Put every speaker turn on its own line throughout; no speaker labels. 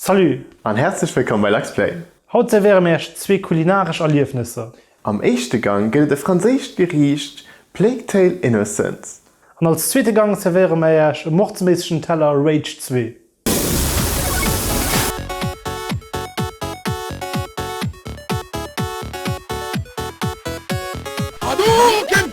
Salut an häerzlech
wëllkomm bei Luxplay! Haut servéiere mir iech
zwee kulinaresch Erliefnesser. Am éischte
Gang gëtt et e franséischt Geriicht, Plague-Tale Innocence. An als zweete
Gang servéiere mir iech e mordsméissegen Teller Rage 2.
Hadouken!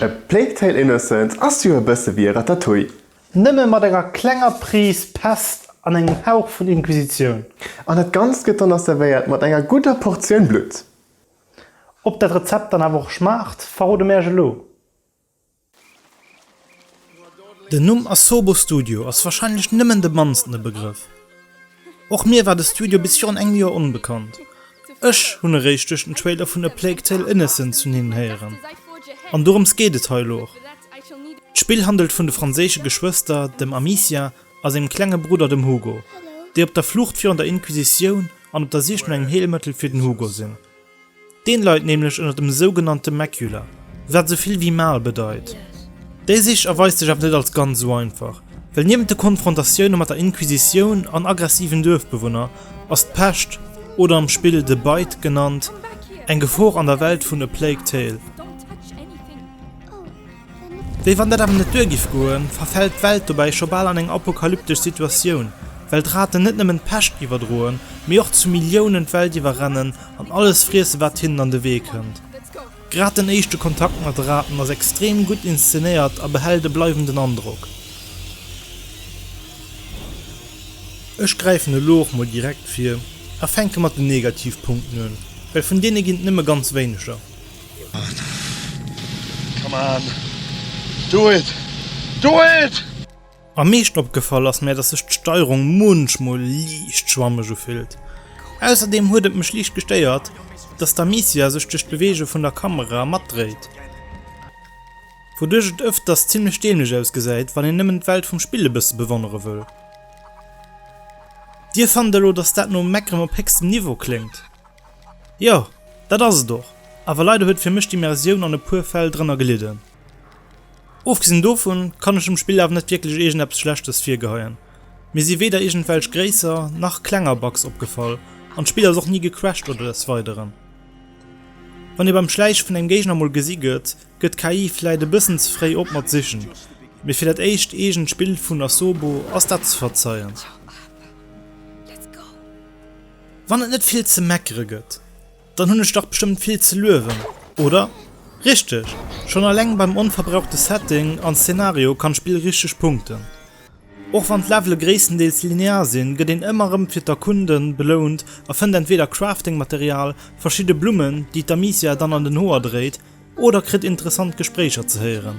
A Plague Tale Innocence ass jo e bësse wéi e Ratatouille. Nëmme mat enger
klenger Prise Pest an engem Hauch vun Inquisitioun. An dat Ganzt
gëtt dann nach servéiert mat enger gudder Portioun Blutt. Ob
dat Rezept dann awer och schmaacht, verrode mir Äech elo.
Den Numm Asobo Studio ass wahrscheinlech nëmmen de mannsten e Begrëff. Och mir war de Studio bis virun engem Joer onbekannt. Ech hunn eréischt duerch den Trailer vun A Plague Tale Innocence vun hinnen héieren. An dorëms geet et hei elo och. D'Spill handelt vun de franséische Geschwëster, dem Amicia a sengem klenge Brudder, dem Hugo, déi op der Flucht virun der Inquisitioun an op der Sich no engem Heelmëttel fir den Hugo sinn. Deen leit nämlech ënnert dem sougenannte Macula, wat esou vill wéi Mal bedeit. Déi Sich erweist sech awer net als ganz esou einfach, well niewent de Konfrontatioune mat der Inquisitioun an aggressiven Duerfbewunner ass d'Pescht, oder am Spill The Bite genannt, eng Gefor an der Welt vun A Plague Tale. Wéi wann dat awer net duer giff goen, verfält d'Welt dobäi scho bal an eng apokalyptesch Situatioun, well d'Raten net nëmmen d'Pescht iwwerdroen, mee och zu Milliounen d'Welt iwwerrennen an alles friessen, wat hinnen an de Wee kënnt. Grad den éischte Kontakt mat de Raten ass extrem gutt inszenéiert a behält e bleiwenden Androck. Ech gräifen elo och mol direkt vir a fänke mat den Negativpunkten un, well vun deene ginn et nëmme ganz wéineger.
Come on, do it, do it! Am meeschten
opgefall ass mär, dass sech d'Steierung munchmol liicht schwammeg ufillt. Ausserdeem huet et mech liicht gestéiert, dass d'Amicia sech duerch d'Beweege vun der Kamera matdréit, wouduerch et ëfters zimmlech dämlech ausgesäit, wann een nëmmen d'Welt vum Spill e bësse bewonnere wëll. Dir fannt elo, dass dat no Meckeren op héchstem Niveau kléngt? Jo, dat ass et och, awer leider huet fir mech d'Immersioun an e puer Fäll drënner gelidden. Ofgesinn dovun kann ech dem Spill awer net wierklech iergendeppes Schlechtes virgeheien. Mir si weder iergendwelch gréisser nach klenger Bugs opgefall an d'Spill ass och ni gecrashed oder des weideren. Wann ee beim Schläiche vun engem Géigner mol gesi gëtt, gëtt d'KI vläit e bëssen ze fréi op mat sichen, mee fir dat éischt eegent Spill vun Asobo ass dat ze verzeien. Wann et net vill ze meckere gëtt, dann hunn ech dach bestëmmt vill ze luewen, oder? Richteg! Schonn alleng beim onverbrauchte Setting an Szenario kann d'Spill richteg punkten. Och wann d'Levele gréisstendeels linear sinn, gëtt een ëmmer rëm fir d'Erkunden belount a fënnt entweeder Crafting-Material, verschidde Blummen, déi d'Amicia dann an den Hoer dréit, oder kritt interessant Gespréicher ze héieren.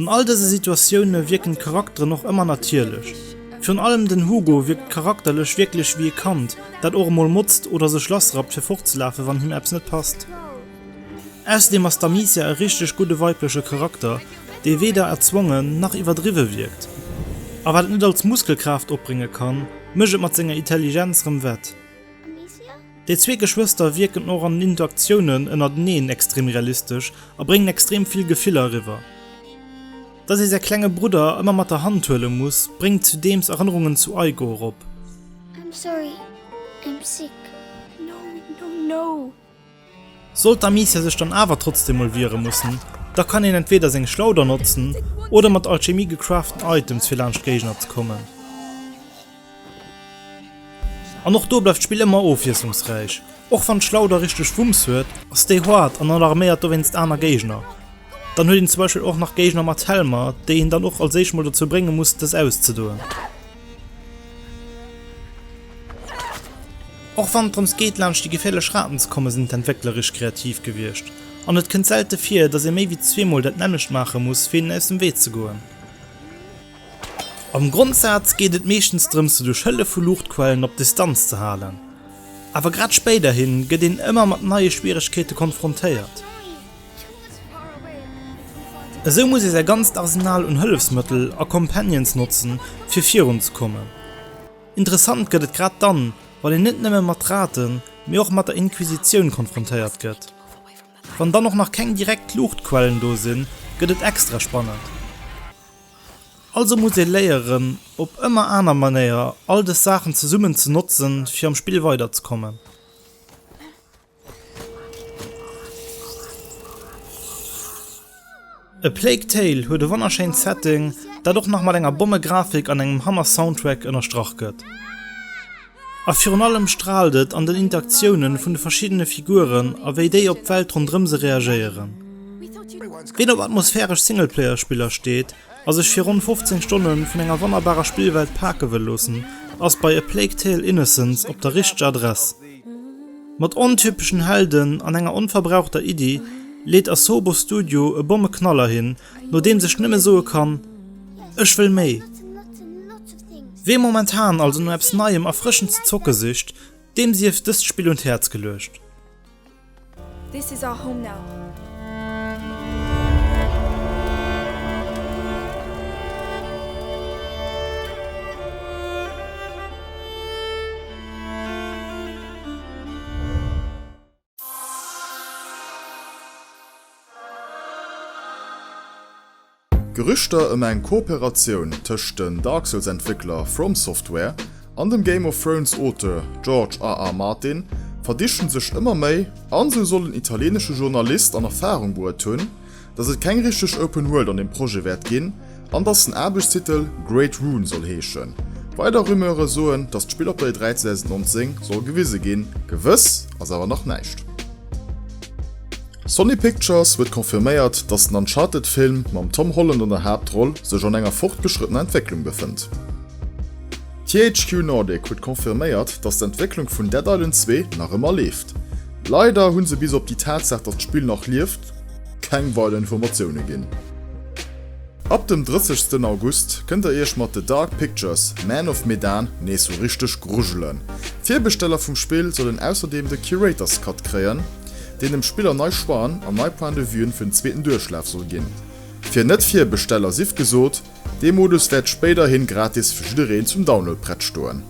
An all dëse Situatioune wierken d'Charakteren och ëmmer natierlech. Virun allem den Hugo wierkt charakterlech wierklech wéi e Kand, dat och emol motzt oder sech lassrappt fir fortzelafen, wann him eppes net passt. Ausserdeem ass d'Amicia e richteg gudde weibleche Charakter, dee weder erzwongen nach iwwerdriwwe wierkt. A wat et net all z'Muskelkraaft opbrénge kann, mécht et mat senger Itelligenz rëm wett. Déi zwee Geschwëster wierken och an den Interactiounen ënnerteneen extrem realistesch a bréngen extrem vill Gefiller eriwwer. Dass ee säi klenge Brudder ëmmer mat der Hand huele muss, bréngt zudeems Erënnerungen zu Aigo erop. I'm sorry,
I'm sick. No, no, no!
Sollt d'Amicia sech dann awer trotzdeem mol wiere mussen, da kann een entweeder seng Schlauder notzen oder mat Alchemie gecraften Items fir laanscht Géigner ze kommen. An och do bleift d'Spill ëmmer ofwiesslungsräich. Och wann d'Schlauder richteg Wumms huet, ass déi hard an alarméiert dowéinst aner Géigner. Dann huet een zum Beispill och nach Géigner mat Helmer, déi een dann och als éischt mol dozou brénge muss, dës auszedoen. Och wann et drëms geet, laanscht déi geféierlech Raten ze kommen, sinn d'Entwéckler richteg kreativ gewiescht. An et kënnt selte vir, dass ee méi wéi zweemol dat nämmlecht maache muss, fir hinnen aus dem Wee ze goen. Am Grondsaz geet et meeschtens drëms duerch Hëllef vu Luuchtquellen op Distanz ze halen. Awer grad spéiderhi gëtt een ëmmer mat neie Schwieregkeete konfrontéiert. Esou muss ee säi ganzt Arsenal un Hëllefsmëttel a Companions notze fir virun ze kommen. Interessant gëtt et grad dann, wann een net nëmme mat Raten, mee och mat der Inquisitioun konfrontéiert gëtt. Wann dann och nach keng direkt Luuchtquellen do sinn, gëtt et extra spannend. Also muss ee léieren, op ëmmer aner Manéier all dës Saachen zesummen ze notzen, fir am Spill weiderzekommen. A Plague Tale huet e wonnerschéint Setting, dat och nach mat enger Bommegrafik an engem Hammer-Soundtrack ënnerstrach gëtt. A virun allem straalt et an den Interaktiounen vun de verschiddene Figuren a wéi déi op d'Welt ronderëm se reagéieren. Ween op atmosphäresch Singleplayer-Spiller steet a sech fir ronn 15 Stonne vun enger wonnerbarer Spillwelt pake wëll loossen, ass bei A Plague Tale, Innocence op der richteger Adress. Mat ontypeschen Helden an enger onverbrauchter Iddi leet Asobo Studio e Bommeknaller hin, no deem sech nëmme soe kann, Ech wëll méi! Wee momentan also no eppes Neiem, Erfrëschend ze zocke sicht, deem sief dëst Spill un d'Häerz geluecht.
This is our home now.
D'Gerüchter ëm eng Kooperatioun tëscht den Dark Souls Entwéckler From Software an dem Game of Thrones Auteur George RR Martin verdichten sech ëmmer méi, an esou soll en italieenesche Journalist an Erfarung bruet hunn, dass et keng richteg Open World an dem Projet wäert ginn an dass den Aarbechtstitel Great Rune soll heeschen. Weider Rumeure soen, dass d'Spill op der E3 2019 soll gewise ginn, gewëss ass awer nach näischt. Sony Pictures huet confirméiert, dass den Uncharted-Film mam Tom Holland an der Haaptroll sech an enger fortgeschrëttener Entwécklung befënnt. THQ Nordic huet confirméiert, dass d'Entwécklung vun Dead Island 2 nach ëmmer leeft. Leider hu se bis op déi Tatsaach, dass d'Spill nach lieft, keng weider Informatioune ginn. Ab dem 30 sten August kënnt der iech mat The Dark Pictures, Man of Medan nees sou richteg grujelen. D'Virbesteller vum Spill sollen ausserdeem de Curator's Cut kréien, deen dem Spiller nei Choixen an nei Point de Vuen fir den zweeten Duerchlaf soll ginn. Fir Net-Virbesteller sief gesot, dee Modus wäert spéiderhi gratis fir jiddereen zum Download prett stoen.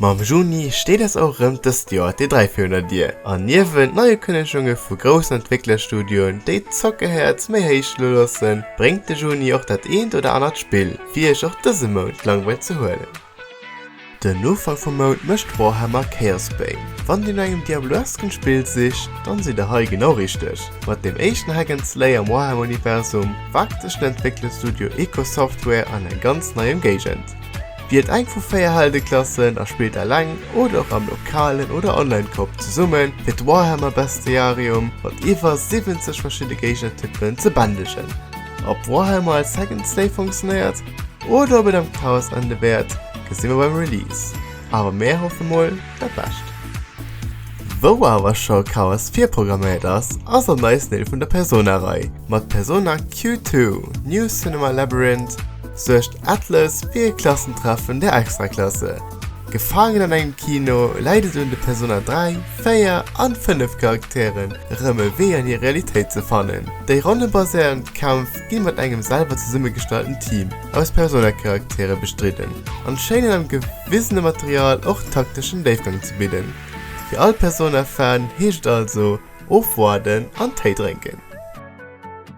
Mam Juni steet ass och erëm dëst Joer d'E3 fir un der Dier, an niewent Neiukënnegunge vu groussen Entwécklerstudioen, déi d'Zockehäerz méi héich lo loossen, bréngt de Juni och dat eent oder anert Spill, fir iech och dëse Mount d'Langweil ze huelen. Den Ufank vum Mount mécht Warhammer Chaosbane. Wann dir no engem Diablo-esken Spill sicht, dann sidd der hei genau richteg. Mat deem éischten Hack and Slay am Warhammer-Universum waagt sech den Entwécklerstudio Ikosoftware an eng ganz nei Emgéigend. Wielt eng vu 4 Heldeklassen a spillt eleng oder och am lokalen oder online Koop zesumme fir d'Warhammer Bestiarium mat iwwer 70 verschidde Géigner-Typen ze bändegen. Ob Warhammer als Hack and Slay funktionéiert oder ob et am Chaos ende wäert, gesi mer beim Release, awer mär hoffe mol dat Bescht. Wou awer scho Chaos virprogramméiert ass, ass an neiste Deel vun der Persona-Rei. Mat Persona Q2, New Cinema Labyrinth suergt. Atlas, wéi e Klassentreffen der Extraklasse. Gefaangen an engem Kino, läit et un de Persona 3, 4 an 5 Charakteren, erëm e Wee an hir Realitéit ze fannen. Déi ronnebaséierend Kämpf gi mat engem selwer zesummegestalten Team aus Persona-Charaktere bestridden an schéinen am gewisene Material och takteschen Déifgang ze bidden. Fir all Persona-Fan heescht et also, ofwaarden an Téi drénken.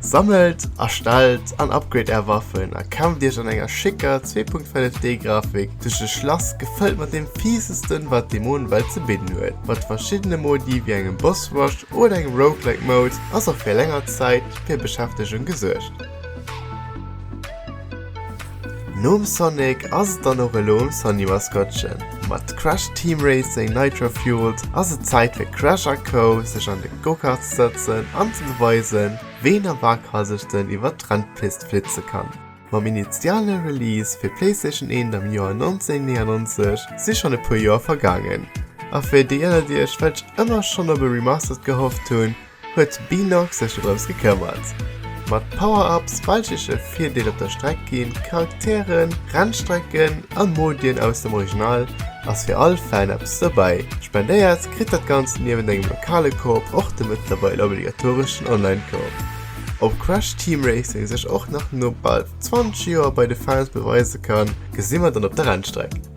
Sammelt, erstellt an upgrade är Waffen a kämpft iech an enger schécker 2.5D Grafik duerch e Schlass gefëllt mat deem fiesesten wat d'Dämonenwelt ze bidden huet. Mat verschiddene Modi wéi engem Boss Rush oder engem Roguelike Mode ass och fir länger Zäit fir Beschäftegung gesuergt. Nom Sonic ass et dann och elo um Sony-Maskottchen. Mat Crash Team Racing Nitro Fueled ass et Zäit fir Crash a Co sech an de Go-Kart ze sëtzen an ze beweisen, ween a Waghalsigten iwwert d'Rennpist flitze kann. Mam initiale Release fir d'Playstation 1 am Joer 1999 si schonn e puer Joer vergaangen, a fir déi ënnert iech, welch ëmmer schonn op e Remastered gehofft hunn, huet Binox sech doroms gekëmmert. Mat Power-Ups, weichleche Virdeel op der Streck ginn, Charakteren, Rennstrecken a Modien aus dem Original ass fir all Fan eppes dobäi. Spendéiert kritt dat Ganzt niewent engem lokale Koop och de mëttlerweil obligatoreschen Online-Koop. Ob Crash Team Racing sech och nach no bal 20 Joer bei de Fans beweise kann, gesi mer dann op der Rennstreck.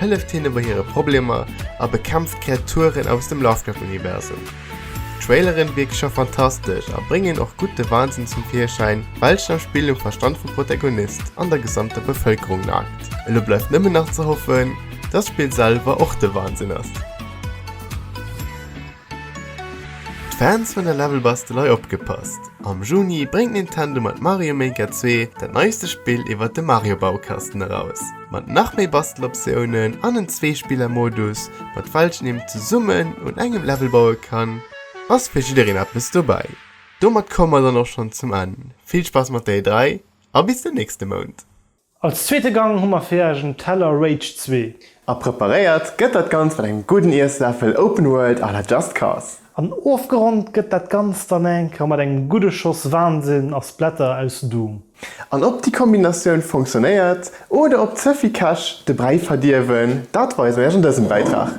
hëlleft hinne bei hire Problemer a bekämpft d'Kreaturen aus dem Lovecraft-Universum. D'Traileren wierke scho fantastesch a bréngen och gutt de Wahnsen zum Virschäin, welchen am Spill um Verstand vum Protagonist an der gesamter Bevëlkerung naagt. Elo bleift nëmmen nach ze hoffen, dass d'Spill selwer och de Wahnsinn ass. Fans vun der Levelbastelei opgepasst, am Juni bréngt Nintendo mat Mario Maker 2 dat neiste Spill iwwert de Mario Baukasten eraus. Mat nach méi Basteloptiounen an en Zweespillermodus, mat welchen een zesummen un engem Level baue kann, ass fir jiddereen eppes dobäi. Domat komme mer dann och schonn zum Enn, vill Spaass mat der E3 a bis den nächste Mount! Als zweete
Gang hu mer fir Iech en Teller Rage 2. A preparéiert
gëtt dat Ganzt mat engem gudden Iessläffel Open World à la Just Cause. An ofgeronnt
gëtt dat Ganzt dann enker mat engem gudde Schoss Wahnsinn a Splatter aus Doom. An ob déi
Kombinatioun funktionéiert oder ob ze vill Käch de Bräi verdierwen, dat weisen mer Iech an dësem Bäitrag.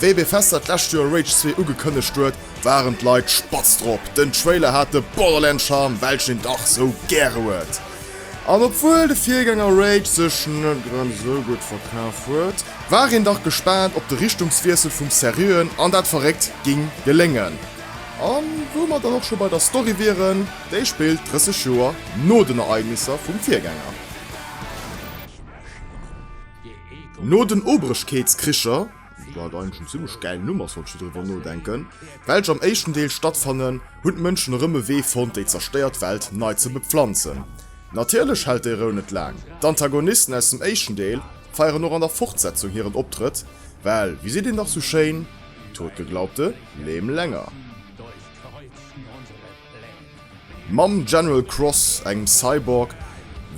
Wéi bei Fester d'lescht Joer Rage 2 ugekënnegt huet, waren d'Leit spatz drop. Den Trailer hat de Borderland-Charme, welchen een dach sou gäre huet. An obwuel de Virgänger Rage sech net grad esou gutt verkaf huet, war een dach gespaant, ob de Richtungswiessel vum Seriöen an dat Verréckt géing geléngen. A wou mer dann och scho bei der Story wieren, déi spillt 30 Joer no den Ereignisser vum Virgänger. No den Obrechkeetskricher, wat eigentlech en zimmlech gäilen Numm ass, wann ech sou driwwer nodenken, welch am éischten Deel stattfannen, hunn d'Mënschen erëm e Wee fonnt, déi zerstéiert Welt nei ze bepflanzen. Natierlech hält déi Rou net laang, d'Antagonisten aus dem éischten Deel feieren och an der Fortsetzung hiren Optrëtt, well, wéi seet een dach sou schéin, Totgeglaubte leben länger. Mam General Cross, engem Cyborg,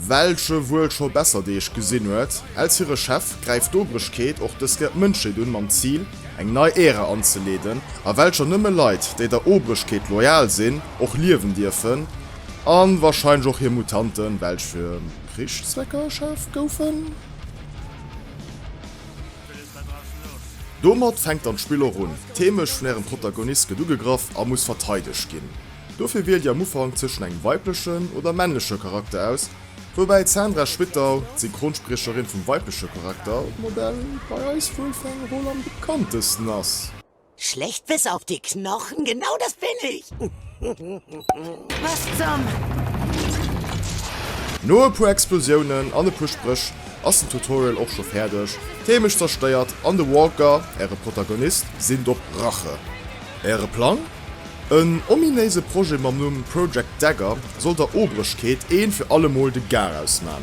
welche wuel scho besser Deeg gesinn huet, als hire Chef, gräift d'Obrechkeet och dës Kéier d'Mënschheet un, mam Zil, eng nei Ära anzeleeden, a welcher nëmme Leit, déi der Obrechkeet loyal sinn, och liewen dierfen, a wahrscheinlech och hir Mutanten, welch fir Krichszwecker erschaf goufen. Domat fänkt dann d'Spill och un. D'Heemecht vun ärem Protagonist gëtt ugegraff a muss verteidegt ginn. Dofir wielt dir am Ufank zwëschen engem weiblechen oder männleche Charakter aus, woubäi d'Sandra Schwittau, d'Synchronspriecherin vum weibleche Charaktermodell, bei eis wuel fir eng Roll am bekanntesten ass. Schlecht bis
auf die Knochen, genau das bin ich! Was zum?
No e puer Explosiounen an e puer Spréch ass den Tutorial och scho fäerdeg, d'Heemecht zerstéiert an de Walker, äre Protagonist, sinn op Rache. Äre Plang? En ominéise Projet mam Numm Project Dagger soll der Obrechkeet een fir allemol de Garaus man.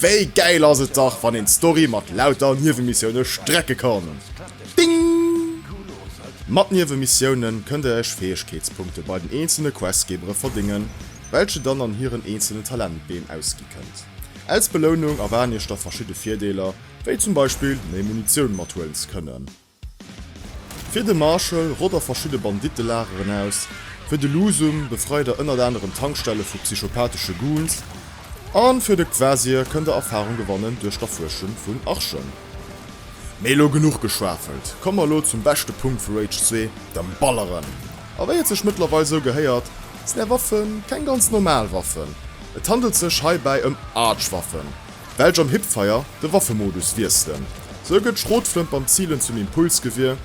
Wéi gäil ass et dach wann een d'Story mat lauter Niewemissioune strecke kann! Ding! Mat Niewemissioune kënnt der iech Fäegkeetspunkte bei den eenzele Questgebere verdéngen, welche dann an hiren eenzele Talentbeem ausgi kënnt. Als Belounung erwaarden iech da verschidde Virdeeler, wéi zum Beispill méi Munitioun mathuelen ze kënnen. Fir de Marshall rott a verschidde Bandittelageren aus, fir de Lusum befreit er ënnert anerem Tankstelle vu psychopathesche Goons a fir de Kvasir kënnt e Erfarung gewannen duerch d'Erfuerschen vun Archen. Mee elo genuch geschwafelt, komme mer elo zum beschte Punkt vu Rage 2, dem Balleren. A wéi et sech mëttlerweil sou gehéiert, sinn är Waffen keng ganz normal Waffen, et handelt sech heibäi ëm Arch-Waffen, Belsch am Hipfire de Waffemodus wiesselen. Sou gëtt d'Schrotflënt beim Zilen zum Impulsgewier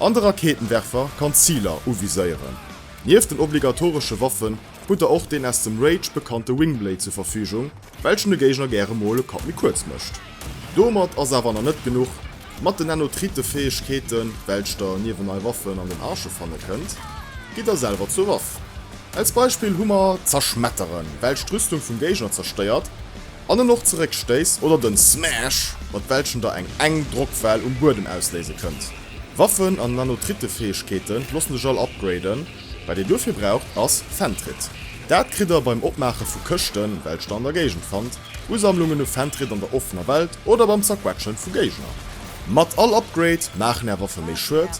an de Raketenwerfer kann d'Ziler uviséieren. Nieft den obligatoresche Waffen hutt der och deen aus dem Rage bekannte Wingblade zur Verfügung, welchen de Géigner gäre mol e Kapp méi kuerz mécht. Domat ass awer nach net genuch, Mat den Nanotrite-Fäegkeeten, welch der niewent nei Waffen an den Arche fanne kënnt, gitt der selwer zur Waff. Als Beispill hu mer d'Zerschmetteren, welch d'Rüstung vum Géigner zerstéiert. An en och zeréck stéisst oder den Smash, mat welchem der eng eng Drockwell um Buedem ausléise kënnt. Waffen an Nanotritefäegkeete loossen sech all upgraden, wat dir duerfir braucht ass Fentrit. Dat kritt der beim Opmaache vu Këschten, welch der an der Géigend fannt, Usammlungen u Fentrit an der offener Welt oder beim Zerquetschen vu Géigner. Mat all Upgrade maachen är Waffe méi Schued,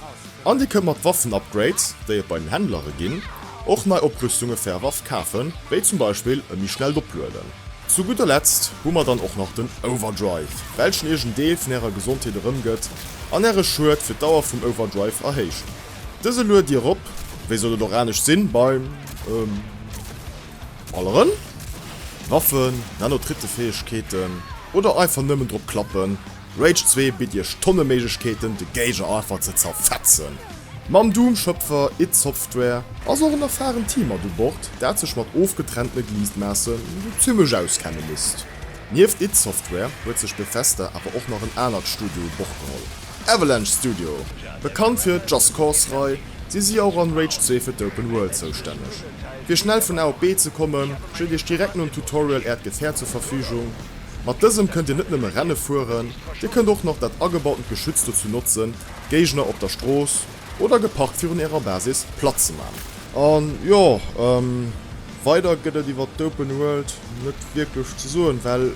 An dir kënnt mat Waffen-Upgrades, déi et bei den Händlere ginn, och nei Oprüstunge fir är Waff kafen, wéi zum Beispill e méi schnellt Oplueden. Zu gudder Letzt hu mer dann och nach den Overdrive, welchen iech en Deel vun ärer Gesondheet erëmgëtt an äre Schued fir d'Dauer vum Overdrive erhéicht. Dëse lued dir erop, wéi sollt et och anescht sinn, bei alleren Waffen, Nano-Trittefäegkeeten oder einfach nëmmen drop klappen, Rage 2 bitt iech Tonne Méiglechkeeten de Géiger einfach ze zerfetzen. Mam Doom Schëpfer id Software ass och en erfahrent Team mat u Bord, dat sech mat ofgetrennte Gliesmaassen sou zimmlech auskenne misst. Nieft id Software huet sech Bethesda awer och nach en anert Studio u Bord geholl, Avalanche Studio. Bekannt fir Just Cause Rei, si si och an Rage 2 fir d'Open World zoustänneg. Fir schnell vun A op B ze kommen, steet iech direkt nom Tutorial äert Gefäert zur Verfügung, Mat dësem kënnt Dir net nëmme Renne fueren, Dir kënnt och nach dat agebautent Geschütz dozou notzen, d'Géigner op der Strooss oder geparkt virun Ärer Basis platt ze man. An jo, weider gëtt et iwwert d'Open World net wierklech ze soen, well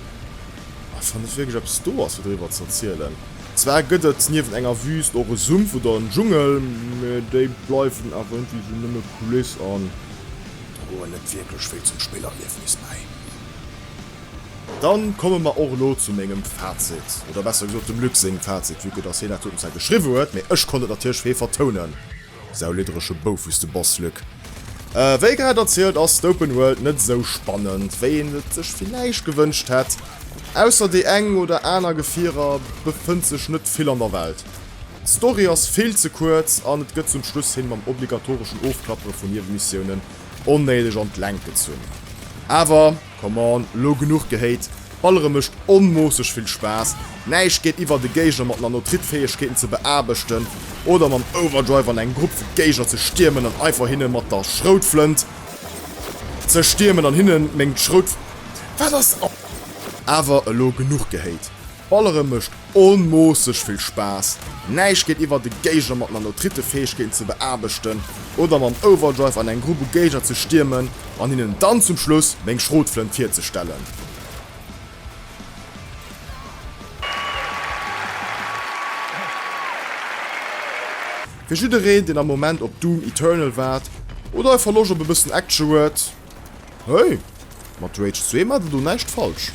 einfach net wierklech eppes do ass fir driwwer ze erzielen. Zwar gëtt et niewent enger Wüst och e Sumpf oder en Dschungel, mä déi bleiwen awer ëntwéi sou nëmme Kuliss an droen net wierklech vill zum Spillerliefnis bäi. Dann komme mer och elo zu mengem Fazit, oder besser gesot dem Luc sengem Fazit, vu que dass hien dat doten zwar geschriwwe huet, mee ech konnt et natierlech fee vertounen. Sau lidderege Boufus de Boss, Luc. Wéi grad erzielt ass d'Open World net esou spannend, wéi een et sech villäicht gewënscht hätt. Ausser déi eng oder aner Gefierer befënnt sech net vill an der Welt. D'Story ass vill ze kuerz an et gëtt zum Schluss hin mam obligatoreschen Ofklappere vun Niewemissioune onnéideg an d'Längt gezunn. Awer. Come on, lo genuch gehéit. Ballere mécht onmoosseg vill Spaass. Näischt geet iwwer de Géigner mat Nanotrit-Fäegkeeten ze beaarbechten oder mam Overdrive an eng Grupp vu Géigner ze stiermen an einfach hinne mat der Schroutflënt ze stiermen an hinnen meng Schroutflënt ze stiechen. Awer elo genuch gehéit. Ballere mécht onmoosseg vill Spaass, näischt geet iwwer e Géigner mat Nanotrite-Fäegkeeten ze beaarbechten oder mam Overdrive an eng Grupp u Géigner ze stiermen an hinnen dann zum Schluss meng Schrotflënt virzestellen. Fir jiddereen deen am Moment op Doom Eternal waart oder einfach Loscht op e bëssen Action huet, hey, mat Rage 2 maacht der do näischt falsch.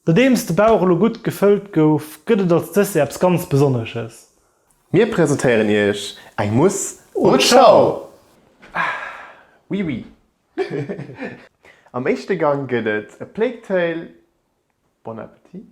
Nodeems de Bauch elo gutt gefëllt gouf, gëtt et als Dessert eppes ganz Besonnesches. Mir
presentéieren Iech eng Mousse au Chao! Oui, oui. Am éischte Gang gëtt et e Plateau. Bon appétit!